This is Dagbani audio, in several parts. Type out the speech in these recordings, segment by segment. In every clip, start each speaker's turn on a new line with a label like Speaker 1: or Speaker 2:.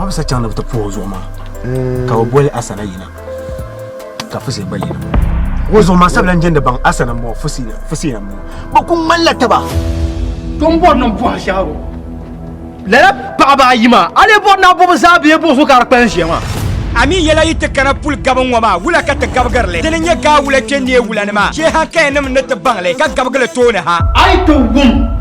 Speaker 1: ma bisa chaŋ ni bi ti puhi o zuɣu maa ka bi boli asana yina ka fusi gba yina o zuɣu maa sabila n jɛndi baŋ asana n bɔŋɔ fusi yina n bɔŋɔ bi ku ŋmanila taba ton bɔri
Speaker 2: niŋ buha shɛhagu lala paɣaba ayi maa a lee bɔri naa bɔbi zaa bee bɔbi so ka di kpalim ʒiya maa a mi yɛla yi ti
Speaker 3: kana puli gabu ŋɔ maa wula ka ti gabigiri li di ni nyɛ gaa wula kpɛ neei wula ni maa shee hankaya nim ni ti baŋ li ka gabigi li tooni ha a yi ti wum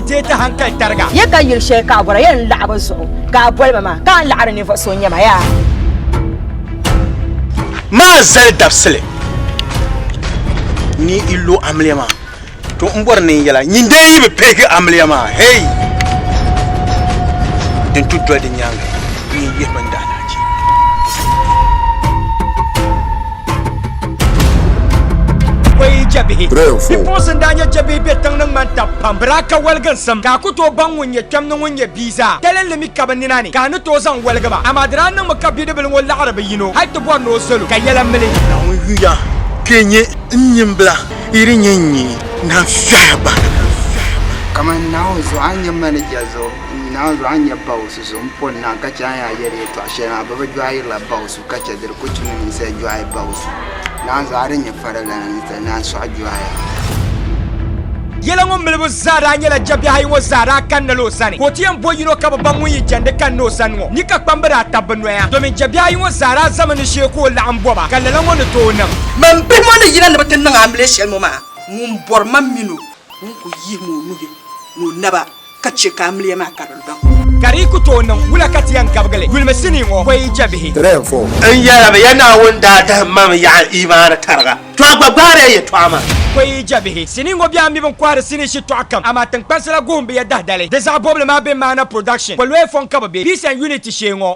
Speaker 3: Dee ti hankali tariga. Ya ka yili shɛli ka a
Speaker 4: bɔra yɛn laɣi bɛ zuɣu ka a boli ba maa, ka a laɣiri ninvuɣ so n-nyɛ ma yaa?
Speaker 5: Maa zali dabisili ni yi lo amiliya maa, to m bɔri ni n yɛla nyin dee yi bi pihigi amiliya maa hei din tu doli di nyaaŋa, n yi yihi bindaalahichi.
Speaker 3: koyi jɛbihi bipuɣinsi n-daa nyɛ jɛbihi be tiŋ ni ŋmani tab pam bɛ daa ka waliginsim ka a ku tooi baŋ ŋun nyɛ kpɛm ni ŋun nyɛ bia zaa dalinli mi ka bɛ nina ni ka a ni tooi zaŋ waligi ba amaa di daa niŋmi ka bidibila ŋɔ laɣiri bi yino hal ti bɔri ni o salo ka yɛla mili Naawuni yuya
Speaker 5: kpe nyɛ n nyimbila yi di nyɛ n nyee naan fɛhi ba.
Speaker 6: Kamani Naawuni zuɣu a ni nyɛ manija zuɣu, Naawuni zuɣu a ni nyɛ Baosi zuɣu, m-pɔri naai ka chɛ a ni yaa yɛli yɛtɔɣ shɛli maa, bɛ bi jɔɣirila Baosi. Ka chɛ di di ku tumdi ninsal jɔɣu baɣisu, naan zuɣu a di nyɛ farilana ninsal naan sɔɣi jɔɣu.
Speaker 3: Yɛla ŋɔ milibu zaa daa nyɛla jɛbiɛhi ayi ŋɔ zaa daa kanna la o sani, ka o ti yɛn bo yino ka bɛ baŋ ŋun yi jɛndi kanna o sani ŋɔ ni ka kpamba daa tabi bɛ noya, domin jɛbiɛhi ayi ŋɔ zaa daa zami ni shee ka o laɣim bɔba, ka lala ŋɔ ni tooi niŋ. Mani bihi ŋɔ ni yina
Speaker 7: ni bɛ ti niŋ amiliya shɛli ŋɔ maa, ŋun bɔri ma min o ŋun kul yihim o nuhi ni o naba. ka chɛ ka amiliya maa ka di dɔŋ. Ka di ku tooi niŋ
Speaker 3: wula ka ti yɛn gabigili yulimi sinii ŋɔ pɔi jɛbihi? N yɛlimi
Speaker 5: ya Naawuni daa dahim ma mi yaɣa imaani tariga, to a gba gbaari ya yɛtɔɣa maa. Pɔi jɛbihi,
Speaker 3: Sinii ŋɔ bɛn mi bi ni kɔhiri sinii shitɔɣu kam, amaa tiŋkpansi la guhim bi ya dahdali. Di zaɣ bɔbili maa bɛn maana production, pɔlɔɛ fɔŋ ka bi be, piece and unit shee ŋɔ.